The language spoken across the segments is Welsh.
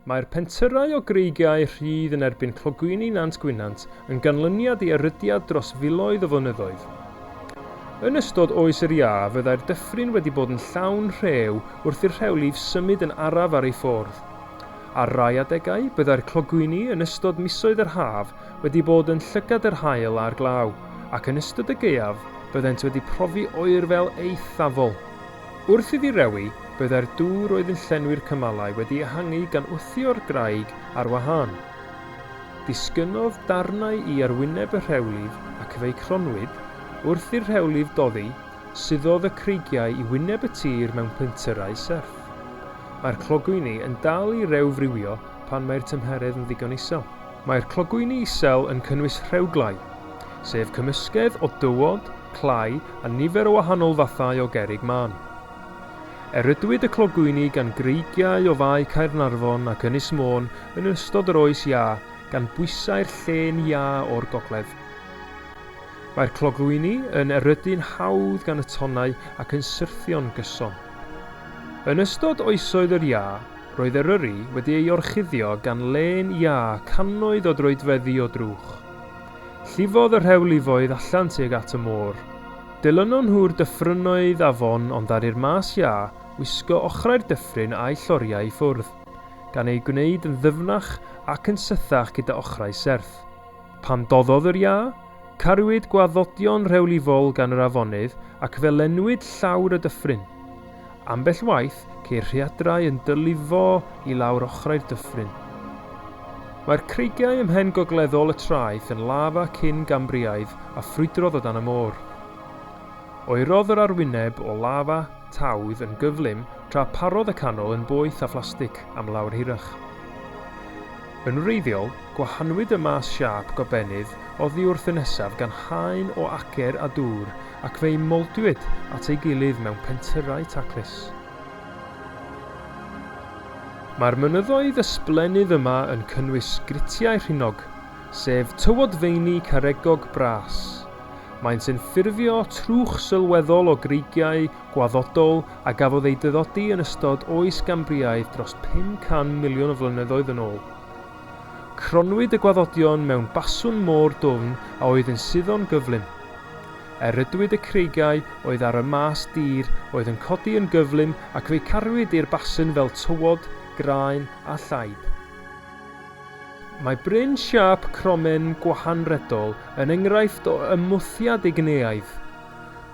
Mae'r pentyrrau o greigiau rhydd yn erbyn clogwyni Nant Gwynant yn ganlyniad i erydiad dros filoedd o flynyddoedd. Yn ystod oes yr iâ fyddai'r dyffryn wedi bod yn llawn rhew wrth i'r rhewlif symud yn araf ar ei ffordd. Ar rai adegau, byddai'r clogwyni yn ystod misoedd yr haf wedi bod yn llygad yr haul a'r glaw, ac yn ystod y gaeaf byddent wedi profi oerfel eithafol. Wrth iddi rewi, byddai'r dŵr oedd yn llenwi'r cymalau wedi ehangu gan wthio'r graig ar wahân. Disgynnodd darnau i arwyneb y rhewlif ac fe'i cronwyd, wrth i'r rhewlif doddi, suddodd y creigiau i wyneb y tir mewn pentyrrau serth. Mae'r clogwyni yn dal i rew friwio pan mae'r tymheredd yn ddigon isel. Mae'r clogwyni isel yn cynnwys rhewglau, sef cymysgedd o dywod, clai a nifer o wahanol fathau o gerrig mân. Erydwyd y clogwyni gan greigiau o Fae Caernarfon ac Ynys Môn yn ystod yr Oes Iâ gan bwysau'r llên iâ o'r gogledd. Mae'r clogwyni yn erydu'n hawdd gan y tonnau ac yn syrthio'n gyson. Yn ystod Oesoedd yr Iâ, Roedd Eryri wedi ei orchuddio gan lên iâ cannoedd o droedfeddi o drwch. Llifodd y rhewlifoedd allan tuag at y môr. Dilynon nhw'r dyffrynnoedd afon ond ddaru'r mas iâ wisgo ochrau'r dyffryn â'i lloriau i ffwrdd, gan eu gwneud yn ddyfnach ac yn sythach gyda ochrau serth. Pan doddodd yr iâ, cariwyd gwaddodion rhewlifol gan yr afonydd ac fe lenwyd llawr y dyffryn. Ambell waith, ceir rhaeadrau yn dylifo i lawr ochrau'r dyffryn. Mae'r creigiau ym mhen gogleddol y traeth yn lafa cyn Gambriaidd a ffrwydrodd o dan y môr. Oerodd yr arwyneb o lafa tawdd yn gyflym tra parodd y canol yn boeth a phlastig am lawr hirach. Yn wreiddiol, gwahanwyd y maes siâp gobennydd oddi wrth y nesaf gan haen o acer a dŵr ac fe'u mowdwyd at ei gilydd mewn pentyrrau taclus. Mae'r mynyddoedd ysblennydd yma yn cynnwys gritiau rhinog, sef tywod feini caregog bras. Maent yn ffurfio trwch sylweddol o greigiau gwaddodol a gafodd eu dyddodi yn ystod Oes Gambriaidd dros 500 miliwn o flynyddoedd yn ôl. Cronnwyd y gwaddodion mewn baswn môr dwfn a oedd yn suddo'n gyflym. Erydwyd y creigiau oedd ar y mas dir oedd yn codi yn gyflym ac fe'i cariwyd i'r baswn fel tywod, graen a llaib. Mae bryn siâp cromen gwahanredol yn enghraifft o ymwthiad igneaidd.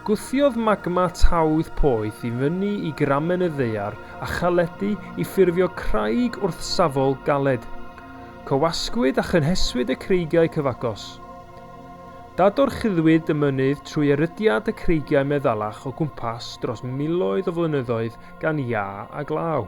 Gwthiodd magma tawdd poeth i fyny i gramen y ddaear a chaledi i ffurfio craig wrthsafol galed. Cywasgwyd a chynheswyd y creigiau cyfagos. Dadorchuddwyd y mynydd trwy erydiad y creigiau meddalach o gwmpas dros miloedd o flynyddoedd gan iâ a glaw.